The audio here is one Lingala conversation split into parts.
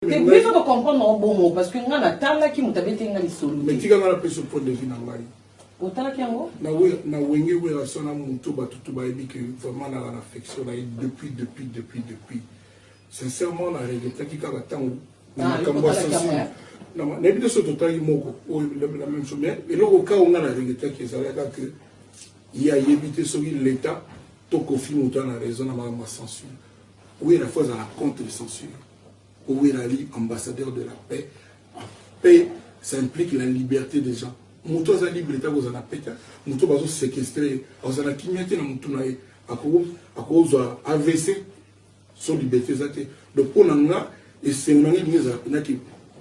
Depuis faut comprendre en bon mot parce que nga na tala ki mutabete nga lisolo. Mais tika nga na peso point de vue na ngai. Otala ki yango? Na we na wenge we la sona mutu batutu ba yebi que vraiment na la affection na ye depuis depuis depuis depuis. Sincèrement na regrettaki kaka tango na makambo ya sensible nayebi te soki totali moko oyo la même chose mais eloko kao nga na regrettaki ezalaka que ye ayebi te soki l'état to kofi moto ana raison na makambo ya censure wera fo azala contre censure po wera ali ambassadeur de la paix paix ça implique la liberté des gens moto aza libre te akozala na pete moto bazosekestre ye akozala kimia te na motu na ye akozwa avc Son liberte eza te donc mpo na nga esengo na ngai elingi ezala mpena ke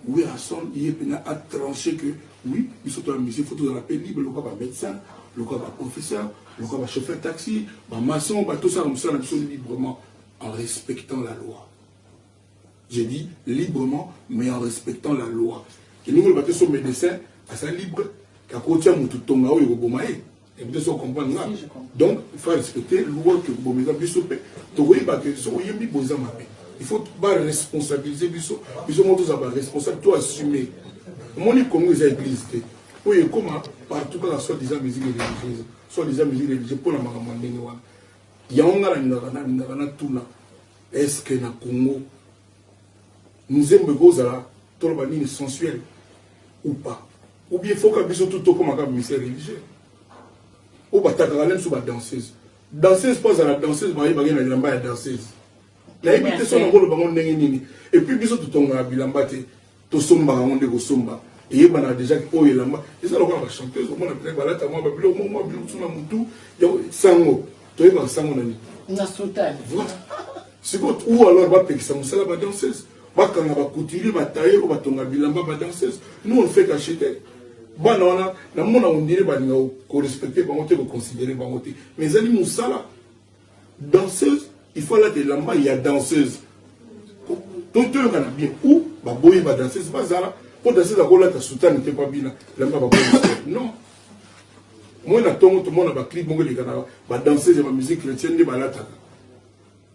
werrason ye mpena atranche ke oui biso to ya musique fo tozala mpe libre lokola bamédecin lokola baprofesseur lokola bachauffeur taxi bamaçon batosala mosala na biso librement en respectant la loi je dis librement mais en respectant la loi elingi oloba te so médecin aza libre akotia motu tonga oyo ekoboma ye biso ocomprendre nga donc fa respecte loi ke bomi eza biso mpe tokoyeba ke soki oyembi boye eza mabe il faut baresponsabilise biso biso moko tozala baresponsable to assume omoni congo eza église te oyo ekóma partout kaka soit disant musique religieuse soit disant musique religieuse mpo na makambo ya ndenge wana yango ngai nalingaka nalingaka natuna estce na congo nzembo ekozala Toloba nini sensuel ou pas? Ou bien faut que biso tout tokoma kaka ministère religieux? Ou batakaka nde biso ba danseuse. Danseuse mpo azala danseuse bayebaki na bilamba ya danseuse. Nayebi te soki nakoloba ngo ndenge nini. Et puis biso totongaka bilamba te. Tosombaka ngo nde kosomba. eyebanaka déjà oyo elamba eza lokola bachanteuse omona mpenza balata mwa babiloko mwa mwa biloko na motu sango toyebaka sango na nini na sutani sikoyo ou alors bapekisa mosala badanseuse Bakanga ba couturier ba tailleur oyo batonga bilamba ba danseuse nous on fait qu'acheter bana wana na mona ondire balinga ko respecter bango te ko considérer bango te mais ezali musala danseuse il faut alata elamba ya danseuse totoyokana bien ou baboyi ba danseuse bazala mpo danseuse akolata soutane te mpa bina elamba baboyi non moi na ntongo tomona baclip moko elekaka badanseuse ya bamusique chrétienne nde balataka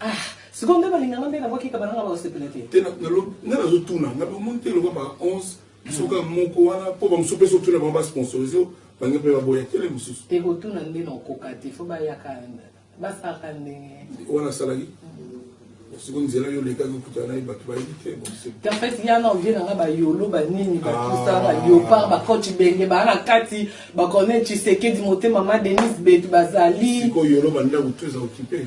Ah, sikoyo nde balinga nga nde na bwaki kabana nga bakosepela te te nga nazotuna nga bamoni te lokola ba 11 soka moko wana mpo bamosusu mpe soki tuna bango basponsorise bange mpe baboya tele mosusu te kotuna nde na okoka te fo bayaka basalaka ndenge wana asalaki siko nzela yo olekaki okuta naye bato bayebi te en fait ya na ovie nanga bayolo banini batusa ah. baliopar bacoach benge baa na kati bacornel tshisekedi motema ma denise betu bazali sikoyo yolo bandako to eza okipe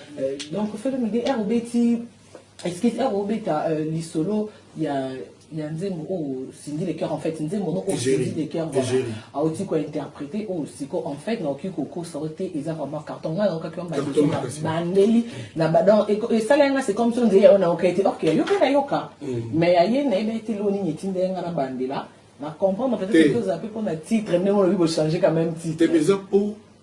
Euh, donc Felo Midi, ere obeti excuse ere obeta euh, lisolo ya ya nzembo oyo Cindy le cœur en fait nzembo no oyo Cindy le cœur voilà auti ko interpréter oyo siko en fait naoki kokosa yo te eza vraiment carton ngai naokaki yo mbaliso na bandeli na badon esala yanga c'est comme so nzeye oyo naoka ete ok yoka nayoka mm. mais ya ye nayebi ete loo nini etinda yanga na bandela na comprendre peut-être toza mpe mpo na titre ndenge olobi bochanger quand même titre te mais eza mpo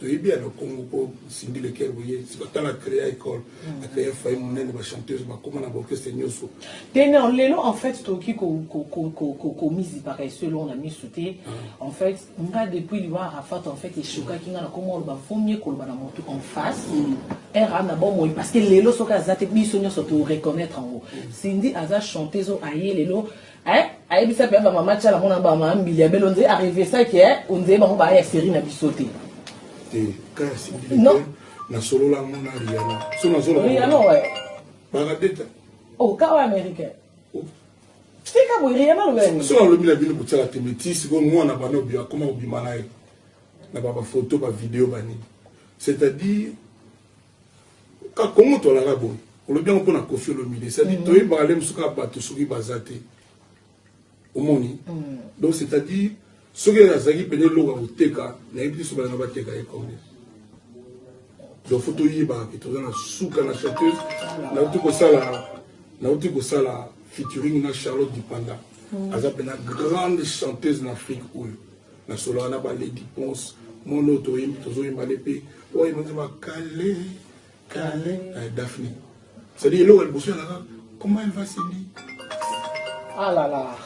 toyebi ya na congo mpo cindy leker boye sikotala créa école hmm. acréa fayi monene bachanteuse bakoma na baorchestre nyonso te non lelo en fait tokoki komizipaka esu eloko na miso te ah. en fait nga depuis liwa arafat en fait eshokaki nga na koma oloba vomie koloba na motu en face hmm. era na bomoi parce que lelo soki aza te biso nyonso toreconnaitre yango hmm. cindy aza chanteuse oyo aye lelo Eh, ayebisa pe ba mama chala mona ba mama mbili ya belo nze arrive ça que eh, onze bango ba ya série na biso te. Te, kasi non. Na solo la mona Rihanna. So na solo. Rihanna ouais. Baradeta. Oh, kawa américain. Oh. Tika boye Rihanna lobela. So na lobela bino kutala te métis ko mwana bana obia koma obima naye. Na ba photo ba vidéo bani. C'est-à-dire ka kongo tolala boye olobi yango mpo na kofi olomide cetadi mm. toyebaka nde mosuka bato soki baza te omoni mm. donc c'est-à-dire soki azalaki pene eloko ya koteka nayebi te so balinga bateka ye combien donc fo toyebaka ke toza na suka na chanteuse nauti kosala nauti kosala featuring na charlotte dipanda mm. aza mpena grande chanteuse na afrique oyo nasolaka na baleki ponse mono toyembi tozoyemba nde mpe oyemba nzemba kale kale na eh, daphne cetadire eloko ya liboso yalaka comment elle va sebi alala ah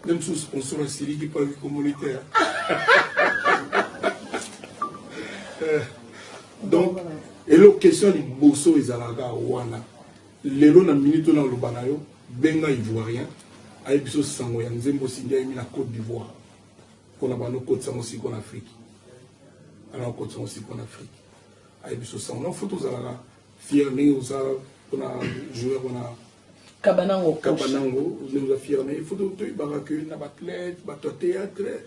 nde mosusu sponsor asiliki mpo ayoki communautaire eh, donc eloko question ya liboso ezalaka wana Lelo na minute oyo naloba na yo, benga Ivoirien ayebi biso sango ya nzembo Cindy ayembi na Cote d'Ivoire mpo na bando okotisa yango siko na Afrique. Ana okotisa yango siko na Afrique. Ayebi biso sango. Non faut tozalaka fier ndenge oza mpo na joueur wana Kabanango. Kabanango ndenge oza fier na ye. Il faut toyebaka que na ba athlète, bato ya théâtre,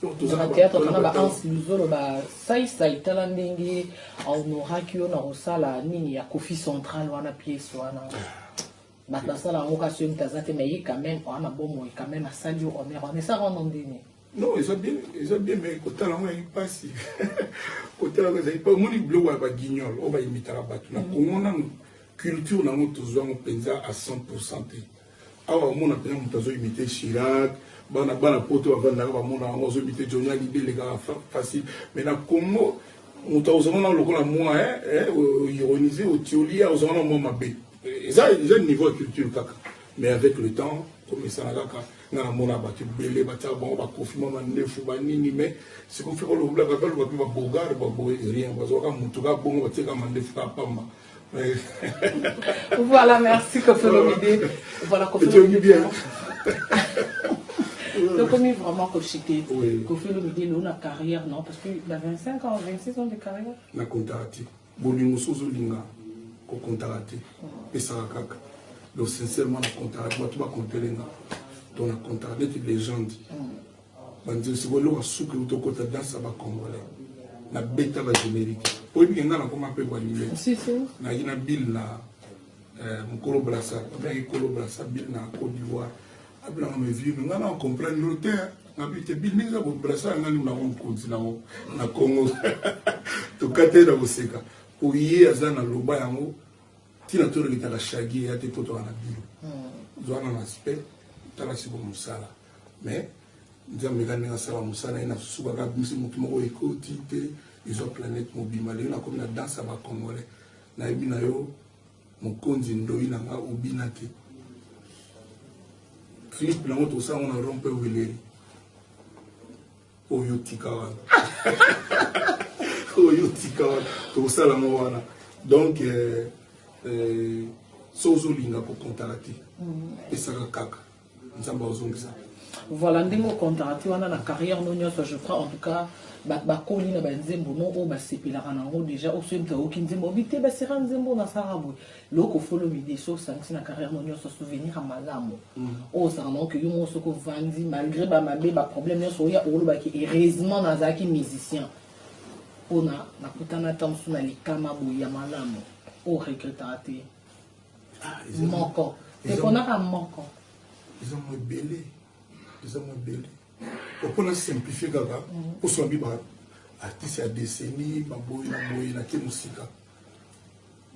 na théâtre tona ba ans luzolo ba saisai tala ndenge ahonoraki yo na kosala nini ya kofi central wana pièce wana bato basala yango kasi yo moto aza te mais ye quand même oa na bomoi quand même asali yo honneur wana esaka wana ndeni non eza bien eza bien mais kotala yango yangi mpasi kotala yango ezali mpa omoni biloko ya baguignol oyo bayimitaka bato na kongo nano culture na yango tozwa yango mpenza à 100 pourcent te Awa omona mpenza moto azo imite Chirac, bana bana poto bavandaka bamona yango azo imite Johnny Hallyday elekaka facile. Mais na Congo moto akozanga na lokola mwa eh, eh, ironise otioli ye akozanga na mwa mabe. Eza eza niveau ya culture kaka. Mais avec le temps komesana kaka nga namona bato ebele batiaka bango bakofi mwa mandefu banini mais sikofi kolobla kaka loba mpe babogare baboye rien bazwaka motu kaka bongo batiaka mandefu kaka pamba voilà merci koffi olomide voilà koffi olomide bien tokomi vraiment kochite koffi olomide loo na carrière non parce que na 25 ans 26 ans de carrière na kontaka te bolingo so ozolinga kokontaka te pesaka kaka donc sincèrement na kontaka bato bakontele nga to na kontaka neti legende banzemsi kolonga suki uto kota dansa ba congolais na beta ba generique oyebi ke nga nakoma mpe bwanime nayaki na bile na eh, mokolo brasa abelaki kolo brasa bile na cote d'ivoire abelanga me vieux nga na comprendre yo te nabi te bile ndenge eza kobrasa yanga nini nango mokonzi nango na congo tokate na koseka mpo ye aza na loba yango ntina tolekitaka shagi eya te mpo toka na bile hmm. zwana na aspect tala siko mosala mais nzambe eka ndenge asala mosala ye nasukaka bimisi motu moko ekoti te ezwa planète mobima lelo nakomi na danse ya bacongolais nayebi na yo mokonzi ndoi na nga obina te clip nango tosala ngo na rompe weleri oyo otika wana oyo otika wana tokosala yango wana donc euh, euh, so ozolinga kokontaka te mm. pesaka kaka nzambe azongisa voilà ndenge okontaka ti wana na carrière no nyonso je crois en tout cas bakoli na banzembo no oyo basepelaka na yango déjà oyo soki moto ayoki nzembo obi te basera nzembo oyo nasalaka boye loko folo midi so osangisi na carrière no nyonso souvenir ya malamu mm. oyo osaka nango ke yo moko soki ovandi malgré bamabe baproblème nyonso oya olobaki heureusement nazalaki musicien mpona nakutana ntango mosusu na likama boye ya malamu oyo regretaka te ah, moko eponaka moko eza mo ebele eza mo ebele opona simplifie kaka oswa bi ba artiste ya décennie baboyi na boyi na ke mosika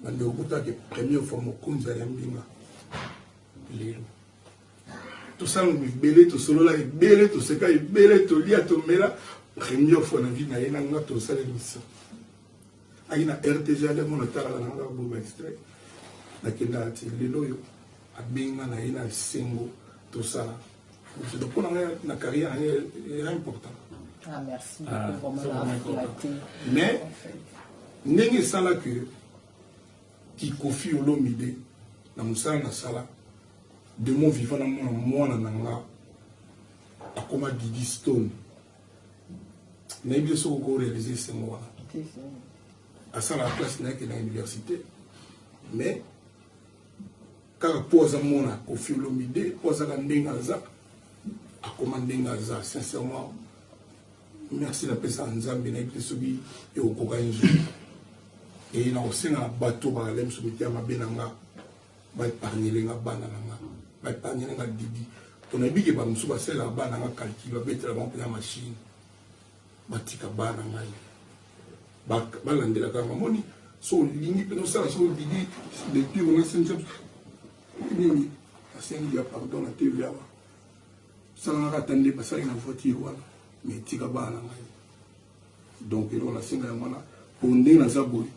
bande okutaki première fois mokonzi ya mbinga lelo tosala mibele tosolola ebele toseka ebele tolia tomela première fois na vie na ye na nga tosala emission ayi na rtg ale mona talaka na nga boma extrait nakendaka ti lelo oyo abenga na ye na esengo tosala mpo na ngai na carrière na ye era important ah, ah, mais ndenge esala ke kikofi olomide na mosala nasala de mon vivant na mwana mwana na nga akoma didi stone nayebi yo soki oko réalise esengo wana asalaka classe na yeke na université mais kaka mpo aza mona kofi olomide mpo azaka ndenge aza akoma ndenge aza sincèrement merci napesaka nzambe nayebi te soki ekokokani nzoi eye nakosenga na bato bakalemi soki te ya mabe na nga ba épargner nga bana na nga ba épargner nga didi pona biki ba musu basela bana nga calcul ba betela ba pena machine batika bana ngai balandelaka nga moni so olingi pena osala so didi depuis wana senja nini asengi ya pardon na tv awa salangaka ata nde basali na voiture wana mais tika bana ngai donc eloko nasenga yango wana po ndenge naza boye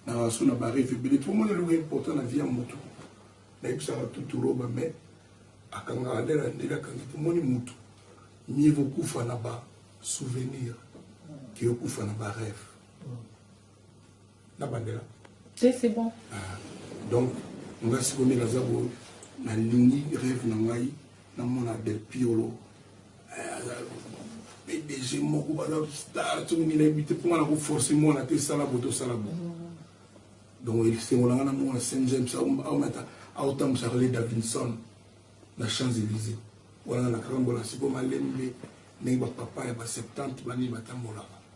naso na bareve ebele po mona eloko important na vie ya motu nayebisaka tuturoba mai akangaka nde na ndele akangi po moni motu mie kokufa na ba souvenir ke okufa na bareve na bandela te c'est bon ah, donc nga sikomi naza boye nalingi rêve na ngai namona del piolo pdg eh, moko baza star soki nini nayebi te mpo nga nakoforce mwana te sala bo tosala bo donc esengo na ngai namona saint james aomata aotambusaka le davinson na champs élysé wana na kakambola siko malembe ndenge bapapa ya ba 70 banini batambolaka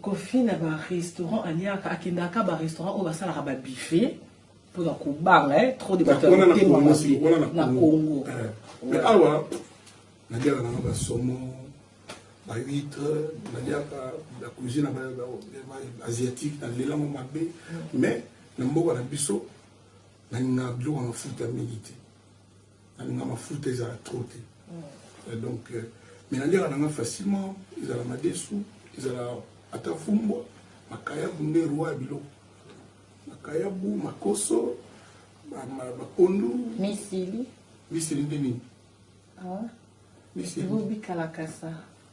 Koffi na ba restaurant aliaka akendaka ka ba restaurant oyo basalaka ba buffet pona kobanga eh, trop de bato ya motema mabe na Congo. Eh, mais awa naliaka nanga ba saumon ba huître naliaka la cuisine asiatique nalelango mabe mais na mboka na biso nalingaka biloko na futa mingi te nalinga mafuta ezala trop te euh, donc euh, mais naliaka nanga facilement ezala madesu ezala ata fumbwa makayabu nde roi ya biloko makayabu makoso bapondu misili misili nde nini ah. misili bobikalakasa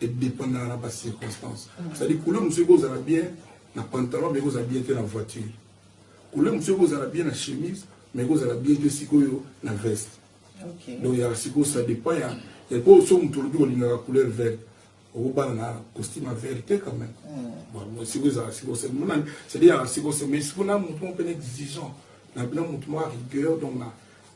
Edependaka na ba circonstances. Mm. C'est-à-dire couleur mosusu ekozala bien na pantalon mais ekozala bien te na voiture. Couleur mosusu ekozala bien na chemise mais ekozala bien te sikoyo na veste. Okay. Donc ya sikoyo ça dépend ya ya po so moto olobi olingaka couleur verte okobala na costume ya verte te quand même. Mm. Sikoyo ezala sikoyo c'est monani c'est-à-dire sikoyo mais sikoyo na moto moko mpe na exigeant na bino moto moko rigueur donc na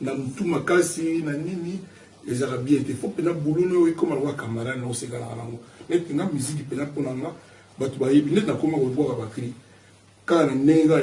na mutu makasi na nini ezalaka bien te faut pena boulot no ekoma lokola camarade na osekanaka nango neti nga musique pena mpo na nga bato bayebi neti nakoma kobwaka bacri kaka na ndenge kaka